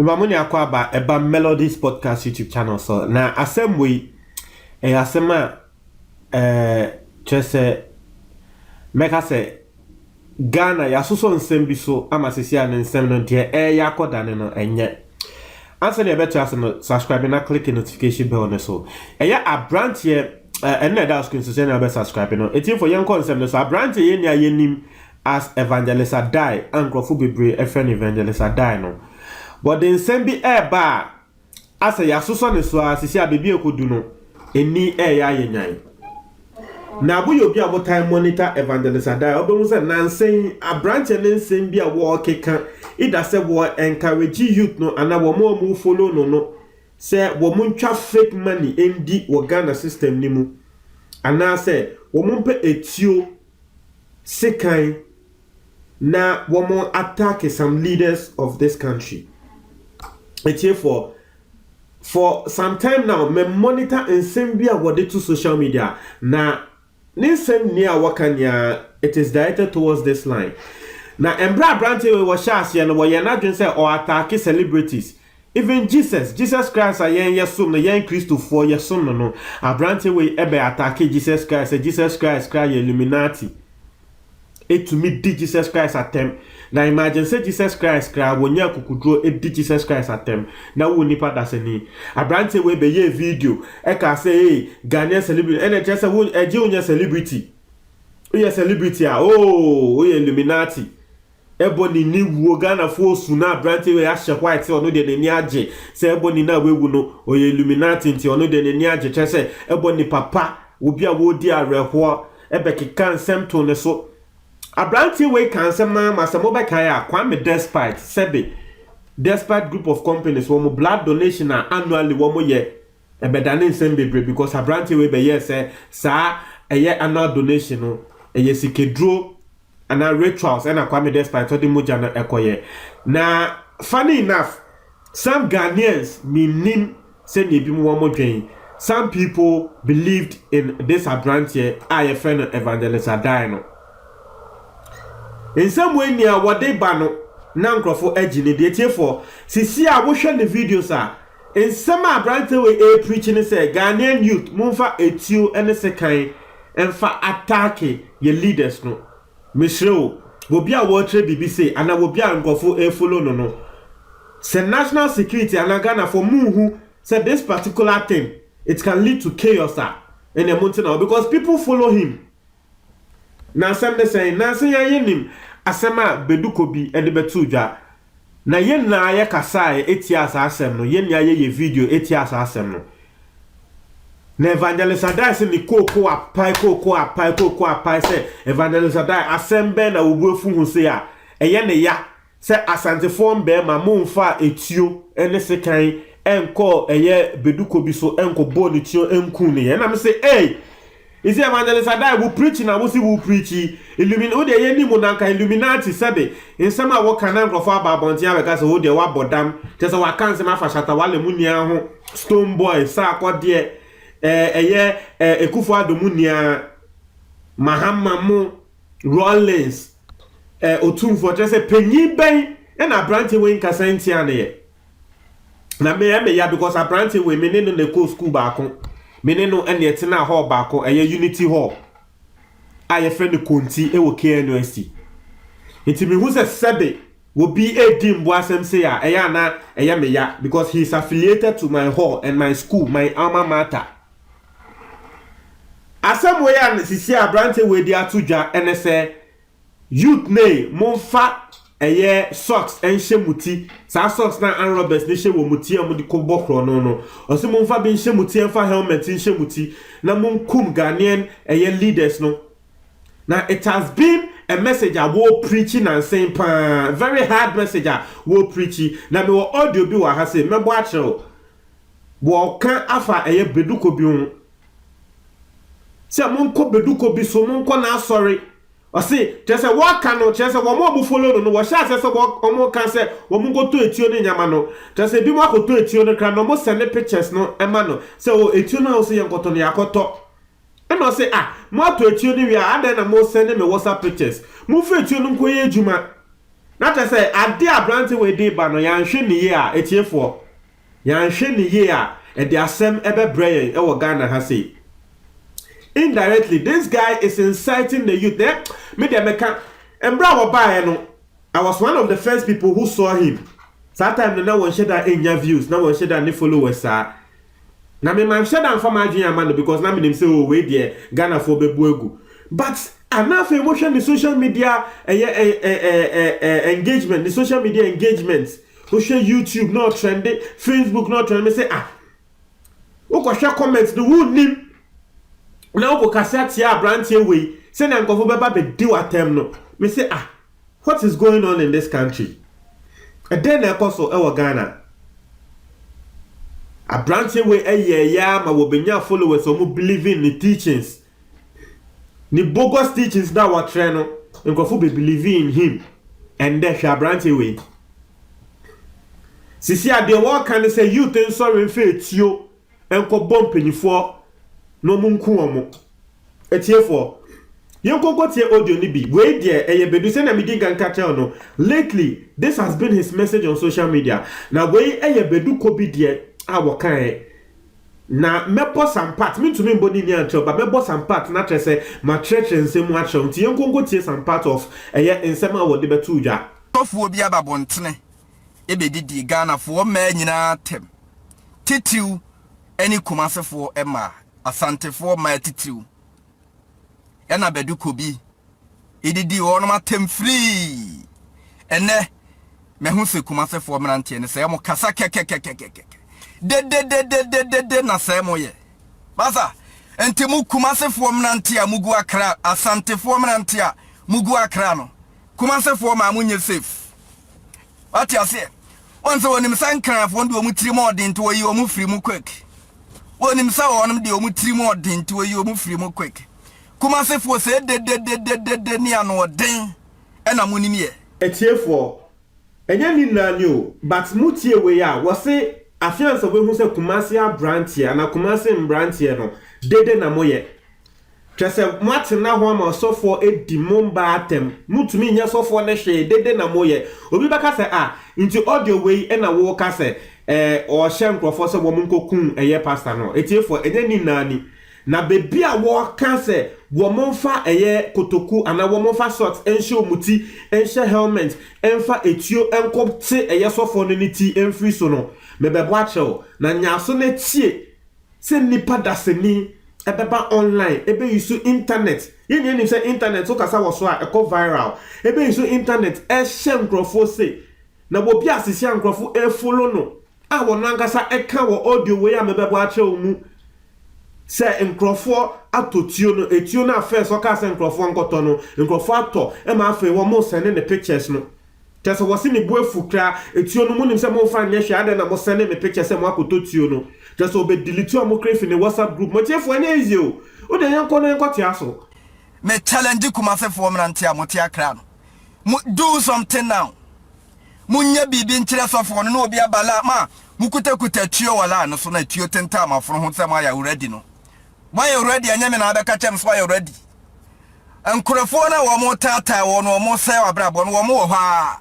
Mema mo nyinaa kɔ aba ɛba Melodies Podcast YouTube channel so na asɛm wɔ yi ɛyɛ asɛm a ɛɛ kyerɛ sɛ mɛka sɛ Ghana yɛasosɔ nsɛm bi so ama sɛsi a ne nsɛm no deɛ ɛreyɛ akɔ dane no ɛnyɛ. Ansa na yɛbɛtra ase no subscribe na click notification bell no so. Ɛyɛ abranteɛ ɛno na ɛda screen so sɛ na wobɛ subscribe no. Ɛtiefo yɛnkɔ nsɛm no so. Abranteɛ yɛn nua yɛnim as Evangelist Adai a nkurɔfo bebree ɛfrɛ no Evangelist Adai no. Wɔde nsɛm bi ɛreba a asɛ yɛasosɔ ne so ara, sisi a baabi a ɛkɔdu no, ani reyɛ ayɛ nyan. Na moyɛ obi a motae monitor Evangelist Adai a, wobɛhu sɛ nnansa yi aberanteɛ no nsɛm bi a wɔrekeka, either sɛ wɔ encourage youth no anaa wɔn a wɔn follow no no sɛ wɔn ntwa fake money ndi wɔ Ghana system no mu, anaasɛ wɔn mpɛ etuo, sekan, na wɔn attack some leaders of this country atiefoɔ for some time now me monitor nsɛm bi a wɔde to social media na ne nsɛm ni a wɔka nea it is directed towards this line na mbrɛ aberante wei wɔhyɛ aseɛ no wɔyɛ n'adwene sɛ ɔ attack celebrities even Jesus Jesus Christ a yɛn yɛsom no yɛn kristofoɔ yɛsom no no aberante wei ɛbɛ attack Jesus Christ sɛ Jesus Christ kra yɛ Illuminati tumi di Jesus Christ atɛm, na imagine sɛ Jesus Christ koraa wɔnya akukuduro di Jesus Christ atɛm na wo nipa dasani. Abranteɛ wei bɛyɛɛ video ɛkaa sɛ ee Ghanaian celebrity ɛna ɛkyerɛ sɛ wo ɛgye wonyɛ celebrity, woyɛ celebrity a ooh woyɛ illuminati. Ebony ne wuo Ghanafoɔ osu na abranteɛ wei ahyɛ white ɔno deɛ n'ani agye sɛ Ebony no a wawu no ɔyɛ illuminati nti ɔno deɛ n'ani agye kyerɛ sɛ Ebony papa obi a ɔredi awerɛhoɔ bɛkeka nsɛm too ne so Abranteɛ wei kaa nsɛm no ara ma sɛ mobɛkae a Kwame despite sɛbe despite group of companies wɔn blood donation a annually wɔyɛ Ɛbɛdane nsɛm bebree because abranteɛ wei bɛyɛɛ sɛ saa ɛyɛ anal donation no ɛyɛ sikaduro anaa rituals ɛna Kwame Despite ɔde mogya no ɛkɔyɛ. Na funny enough some Ghanaians mennim sɛnea ebinom wɔn dwen some people believed in this abranteɛ a yɛfrɛ no Evangelist Addae no. Nsɛm wei nea wɔde ba no na nkorɔfo agye ne deɛ tiefoɔ sisi a wohwɛ ne videos a Nsɛm a aberanteɛ wei ɛrepreachi ne sɛ Ghanaian youth momfa atuo ne sekan mfa attack yɛn leaders no. Mesrɛ o, obi a ɔrekyerɛ biribi sei anaa obi a nkurɔfoɔ refollow no no, sɛ national security anaa Ghanafoɔ monhu sɛ this particular thing it can lead to chaos a, ɛnneɛ monte na hɔ because people follow him. Na asɛm ne sɛn? Nanse yɛn yenim asɛm a Beduko bi de bɛtoo dwa, na yɛn nyinaa yɛkasae tiaa saa asɛm no, yɛn nyinaa yɛyɛɛ video tiaa saa asɛm no. Na Evangelist Addae se ne kooko apae, kooko apae, kooko apae sɛ, Evangelist Addae, asɛm bɛn na wo bo afu ho sei a ɛyɛ ne ya Sɛ Asantefoɔ mmarima momfaa etuo ne sekan nkɔɔ ɛyɛ beduko bi so nkɔbɔɔ ne tuo nkuu no yɛ na mese ei is it evangelist adai wo preach na wose wo preach illumin wodeɛ yɛnim wo na nka illuminati sɛbe nsɛm a woka na nkorɔfoɔ aba abɔnten abɛka sɛ wodeɛ woabɔ dam kyerɛ sɛ waka nsɛm afa shatta wale mu nua ho stone boy saa akɔdeɛ ɛɛ ɛyɛ ɛɛ ekufuado mu nua mahama mo Rawlings, eh, otumfoɔ, kyerɛ sɛ panyin bɛn na aberante wei nkasa ntia no yɛ? Na me ɛyɛ me ya because aberante wei me ne no na ɛkɔɔ sukuu baako, me ne no ɛna ɛtenaa hall baako, ɛyɛ Unity Hall a yɛfrɛ no Konti wɔ KNUST. Nti mehu sɛ sɛbe obi redi mbo asɛm sei a ɛyɛ a na ɛyɛ me ya because he is affiliated to my hall and my school, my alma mater. Asɛm wei a seesei aberanteɛ wei de ato dwa ne sɛ, Youth no ei, momfa ɛyɛ socks nhyɛ mo ti, saa socks no a armed robbers no hyɛ wɔ mo ti a wɔde kɔbɔ korɔno no. Ɔse momfa bi nhyɛ mo ti, ɛmfa helmet nhyɛ mo ti na monkum Ghanaian ɛyɛ leaders no. Na it has been a message a wɔrepreachi nansen paa, very hard message a wɔrepreachi. Na mewɔ audio bi wɔ ha sei, mɛbɔ akyerɛ wo. Wɔka afa a ɛyɛ beduko bi ho sɛ monkɔ beduko bi so, monkɔ n'asɔre. Ɔse, kyerɛ sɛ wɔka no, kyerɛ sɛ wɔn a wɔn follow no no, wɔhyɛ aseɛ sɛ wɔn wɔn ka sɛ wɔn nkɔtɔ etuo ne nneɛma no. Kyerɛ sɛ ebinom akɔtɔ etuo no koraa na wɔn sɛne pictures no ma no sɛ oh etuo no a wose yɛnkɔtɔ no yɛakɔtɔ. Ɛna ɔse ah mo atɔ etuo no wie a adɛn na mo sɛne me WhatsApp pictures. Momfa etuo no nkɔyɛ adwuma. Na kyerɛ sɛ adeɛ a aberante wei de reba no yɛanhwɛ no yie a atiefoɔ. Yɛanhwɛ no yie a ɛde asɛm bɛbrɛ yɛn wɔ Ghana ha sei. Indirectly this guy is inciting the youth eh me deɛ meka mberɛ a wɔbaeɛ no I was one of the first people who saw him saa time no na wɔnhyɛ da nnya views na wɔnhyɛ da ne followers saa na me manhyɛ da nfa m'adwene amma no because na menim sɛ oh wei deɛ Ghanafoɔ bɛbu agu but ah na afei mohwɛ ne social media ɛyɛ eh eh eh eh eh engagement ne social media engagement Wohwɛ YouTube na ɔtrɛnde, Facebook na ɔtrɛnde, me se ah, wokɔhwɛ comment no wonnim na wokɔkasa tia aberanteɛ wei sɛnea nkurɔfo bɛba bɛdi w'atɛm no me se ah, what is going on in this country? Ɛdɛn na ɛkɔ so wɔ Ghana? Aberanteɛ wei ɛyɛɛyɛ ama wɔbɛnya followers wɔn believe in ne teachings Ne bogus teachings no a wɔkyerɛ no, nkurɔfo be believe in him. Ɛndɛ, hwɛ aberanteɛ wei. Sisi a deɛ wɔɔka ne sɛ youth nsɔre mfa etuo nkɔ bɔ mpanyifoɔ na wɔn nku wɔn. Atiefoɔ, yɛn nkɔ nkɔ tie audio no bi. Wei deɛ ɛyɛ bedu. Sɛnea me di nkan ka kyerɛ wo no, lately this has been his message on social media. Na wei ɛyɛ bedu kɔ bi deɛ a wɔkaeɛ. Na mɛbɔ Sampat, mentumi mbɔ ne din ankyerɛ wo, but mɛbɔ Sampat na kyerɛ sɛ makyerɛkyerɛ nsɛm mu akyerɛ wo, nti yɛnkɔ nkɔtie some part of ɛyɛ nsɛm a wɔde bɛtoo dwa. Ɔfoɔ bi aba abɔntene bɛdidie Ghanafoɔ mmaa nyinaa atɛm, titiriw ne Kumasefoɔ mmaa, Asantefoɔ mmaa titiriw. ɛna bɛde kɔ bi edidi wɔnom atɛm firii ɛnɛ mɛho sɛ kumasefoɔ mmeranteɛ no sɛ ɛmo kasa kɛkɛkɛkɛkɛkɛ dedededededede na sɛ ɛmo yɛ basa nti mo kumasefoɔ mmeranteɛ a mugu akra asantefoɔ mmeranteɛ a mugu akra no kumasefoɔ maa mo nyɛ safe Wate aseɛ? Wɔn sɛ wɔnim sɛ nkranfoɔ de wɔn tirim ɔden nti wɔyi wɔn firi mu quick. Wɔnim sɛ wɔn de wɔn tirim ɔden nti wɔyi wɔn firi mu quick. Kumasefoɔ sɛ dededededede ne anoɔden ɛna mo nim yɛ. Atiefoɔ, ɛnyɛ ne nyinaa ni o, but mo tie wei a, wɔse afeansa wɔbɛhu sɛ Kumasi abranteɛ anaa Kumasi mbranteɛ no, dede na mo yɛ. Kyerɛ sɛ, moatena ho ama ɔsɔfoɔ adi mo mma atɛm. Montumi nyɛ ɔsɔfoɔ no hwee, dede na moyɛ. Obi bɛka sɛ, Ah, nti audio wei na woreka sɛ eh, ɔrehyɛ nkurɔfoɔ sɛ wɔnkɔkum ɛyɛ pastor no? Atiefoɔ, ɛnyɛ ne nyinaa ni. Na baabi a wɔka sɛ wɔmfa ɛyɛ kotoku anaa wɔmfa sɔks nhyɛ wɔn ti nhyɛ helmet mfa etuo nkɔte ɛyɛ sɔfoɔ no ne ti mfiri so no, mebɛbɔ akyerɛ wo. Na nya aso na tie. sɛ nnipa dasani ɛbɛba online ɛbɛyusu internet, yɛn nyinaa nim sɛ internet wo kasa wɔ so a ɛkɔ viral, ɛbɛyusu internet ɛrehyɛ nkorɔfoɔ sei, na wɔ bi asisi a nkorɔfo ɛrefollow no a wɔn ankasa ɛka wɔ audio wei a mebɛbɔ akyerɛ wo mu sɛ nkorɔfoɔ atɔ tuo no, ɛtuo no a first ɔkaa sɛ nkorɔfoɔ nkɔtɔ no nkorɔfoɔ atɔ ɛma afei wɔn sɛne ne pictures no Kyerɛ sɛ wɔse ne bo afu kra, etuo no monim sɛ momfa nyɛ hwee adɛn na mo sɛne me picture sɛ moakɔtɔ tuo no kyerɛ sɛ ɔbɛ delete ɔmo kra afi ne WhatsApp group mo tiefoɔ ɛnyɛ easy o wodeɛ yɛnkɔ na yɛnkɔ tea so. Me challenge Kumase foɔ mmerante a mo te Accra no mo do something now mo nyɛ biribi nkyerɛ sɔfoɔ no na obi aba la ma mo kuta kuta tuo wɔ line no so na tuo tentaa mo afono ho sɛ mo ayɛ awura di no Moayɛ ready ɛnyɛ me na abɛka kyɛm so ayɛ ready. Nkurɔfoɔ no a wɔn taataa wɔn no wɔn sɛe abrabɔ no wɔn wɔ hɔ a.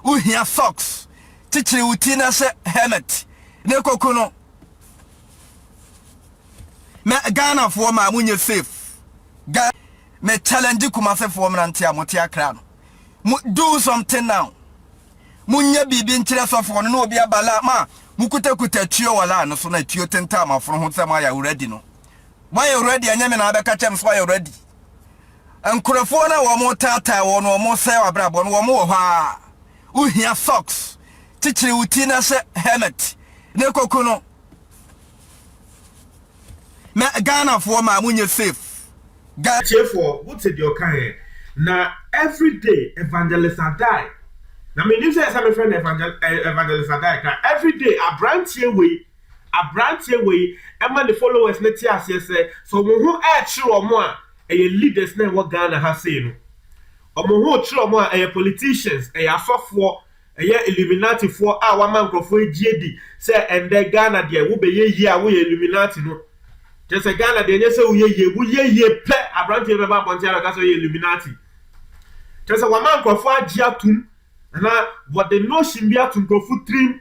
Wohia socks. Kyekyere wo ti na hyɛ helmet. Na ekoku no. Mɛ Ghanafoɔ maa mo nyɛ safe. Ga me challenge Kumasefoɔ mmerante a mo te akra no. Mo do something now. Monyɛ biribi nkyerɛ sɔfoɔ no na obi aba la ma mokutakuta atuo wɔ la no so na atuo tentaa mo afono ho sɛ moayɛ awuradi no. Moayɛ awuradi ɛnyɛ me na abɛka kyerɛ me sɛ woayɛ awuradi. Nkurɔfoɔ no a wɔretaataa wɔn no wɔresɛe w'abrabɔ no wɔn wɔ hɔ ara. Wohia socks. Kyekyere wo ti na hyɛ helmet na kɔku no. na Ghana foɔ maa mo nyɛ safe Ga. Atiefoɔ mo te deɛ ɔka ɛ na everyday evangelist adai na me nim sɛ ɛsɛ me frɛ no evangel eh evangelist adai kra everyday abranteɛ wei abranteɛ wei ɛma ne followers no te aseɛ sɛ sɛ ɔmo ho ɛɛkyere ɔmo a ɛyɛ leaders na ɛwɔ Ghana ha sei no ɔmo ho rekyere ɔmo a ɛyɛ politicians ɛyɛ asɔfoɔ Ɛyɛ Illuminati foɔ a wama nkorɔfoɔ ɛgye di sɛ ɛndɛ Ghana deɛ wo bɛ yɛ yie a wo yɛ Illuminati no. Kyerɛ sɛ Ghana deɛ nyɛ sɛ wo yɛ yie, wo yɛ yie pɛ abranteɛ bɛba abɔnten abɛ ka sɛ ɔyɛ Illuminati. Kyerɛ sɛ wama nkorɔfoɔ agye atom anaa wɔde notion bi ato nkorɔfoɔ tirim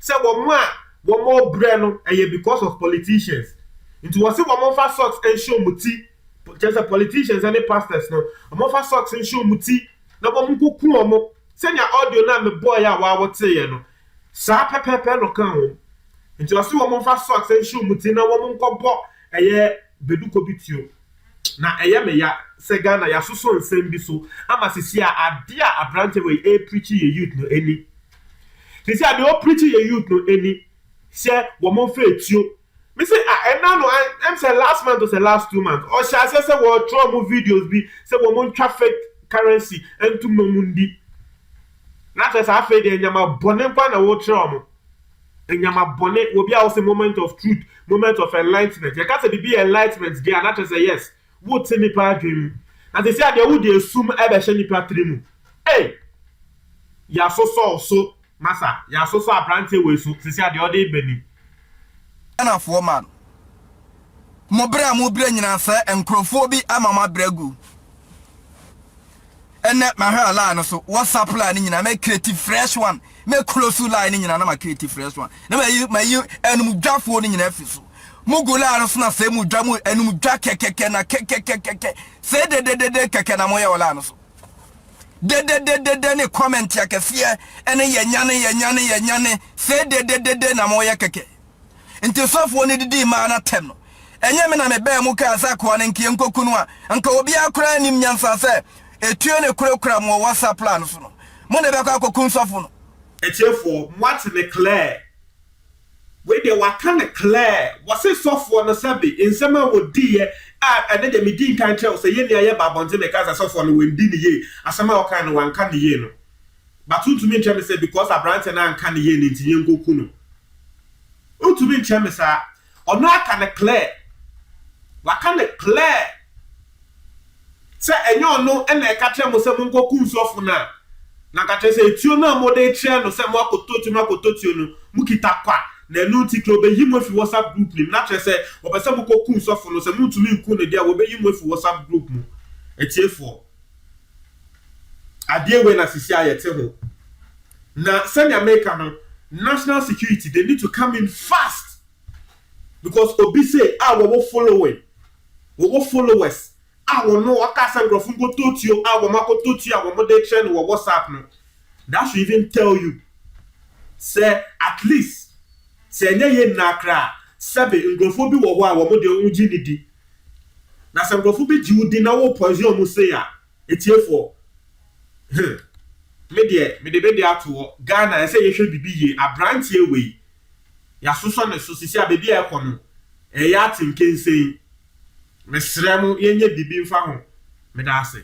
sɛ wɔn a wɔn ɔbrɛ no ɛyɛ because of politicians. Nti wɔ se wɔn nfa socks nhyɛ wɔn ti, kyerɛ sɛ politicians ɛne pastors no wɔn nfa socks nhyɛ wɔn ti Na wɔkoku wɔn, sɛnea audio no a mebɔeɛ a woaa woteeɛ no, saa pɛpɛɛpɛ na ɔkaa wɔn. Nti ɔse wɔn mfa socks nhye wɔn ti na wɔn nkɔbɔ ɛyɛ beduko bi tuo. Na ɛyɛ me ya sɛ Ghana yɛasoso nsɛm bi so ama sisi a adeɛ a aberanteɛ wei repreachi yɛ youth no ɛnni. Sisi a deɛ ɔrepreachi yɛ youth no ɛnni sɛ wɔn mfa atuo. Me se ah ɛna no an em sɛ last month o sɛ last two months ɔhyɛ aseɛ sɛ wɔɔtwerɛ ɔmo videos bi sɛ wɔmo ntwa fake currency ntom na ɔmo ndi na kyerɛ sɛ afei deɛ nyama bɔne nkoa na wɔɔkyerɛ ɔmo nyama bɔne wɔ bi a ɔse moment of truth moment of enlightenment yɛka sɛ bibi yɛ enlightenment deɛ a na kyerɛ sɛ yes Wote nnipa adwene mu. Na seesei ara deɛ wode esum rebɛhyɛ nnipa tiri mu. Ei! Yɛasosɔ wo so, masa. Yɛasosɔ aberanteɛ wei so. Seesei ara deɛ ɔde reba ni. Ghanafoɔ man, mo berɛ a mobrɛ nyinaa sɛ nkorɔfoɔ bi ama mo abrɛ agu. Ɛnɛ mahwɛ a line no so WhatsApp line no nyinaa mɛ create fresh one mɛ close line no nyinaa na ma create fresh one na ma yi ma yi ɛnum dwafoɔ no nyinaa fi so mo gu line no so na sɛ mo dwa mo ɛnum dwa kɛkɛkɛ na kɛkɛkɛkɛkɛ sɛ dededede kɛkɛ na mo yɛ wɔ line no so dededede ne comment akɛseɛ ɛne yɛ nyane yɛ nyane yɛ nyane sɛ dededede na mo yɛ kɛkɛ. Nti sɔfoɔ no didii maa no atɛm no, ɛnyɛ me na mebaa mu kaa sɛ akoa no nka yɛnkɔku no a, anka obiara koraa nnim nyansa sɛ etuo no kurakura mo wɔ WhatsApp line no so no, mo na ɛbɛkɔ akɔku sɔfo no. Atiefoɔ, moate no clear? Wei deɛ wɔaka no clear. Wɔse sɔfoɔ no sɛbe nsɛm a wɔdiiɛ a ɛnɛ deɛ medii nkan kyerɛɛ wo sɛ yɛn nua yɛbaa abɔnten mekaa sɛ sɔfoɔ no wandi no yie, asɛm a ɔkaeɛ no wanka no yie no, but wontumi nkyerɛ me sɛ because aberanteɛ no anka no yie no nti yɛnkɔku no. Wontumi nkyerɛ me saa. Ɔno aka no clear. Waka no clear sɛ ɛnyɛ ɔno na ɛka kyerɛɛ mo sɛ monkɔ kum sɔfo no a, na anka kyerɛ sɛ etuo no a mode rekyerɛ no sɛ moakɔtɔ tuo, moakɔtɔ tuo no, mokita kwa, na ɛno nti kra obeyi mo afi WhatsApp group no mu, na kyerɛ sɛ wɔpɛ sɛ mokɔ kum sɔfo no, sɛ montumi nku no deɛ a, wɔbɛyi mo afi WhatsApp group mu. Atiefoɔ. Adeɛ wei na sisi a yɛte ho. Na sɛnea meka no, national security they need to come in fast because obi sei a wɔwɔ following, wɔwɔ followers a wɔno ɔka sɛ nkurɔfo nkɔtɔ tuo a wɔn akɔtɔ tuo a wɔn de kyerɛ no wɔ WhatsApp no, that should even tell you sɛ at least sɛ ɛnyɛ yei nyinaa koraa a, sɛbe nkurɔfoɔ bi wɔ hɔ a wɔn deɛ wɔn gye no di Na sɛ nkurɔfo bi gye wo di na wo poison wɔn sei a, atiefoɔ, huh, me deɛ mede me deɛ ato hɔ. Ghana ɛsɛ yɛhwɛ biribi yie. Abranteɛ wei, yɛasosɔ ne so. Seesei a baabi a ɛkɔ no, ɛyɛ atenkensen. Mesrɛ mo yɛnyɛ biribi mfa ho. Meda ase.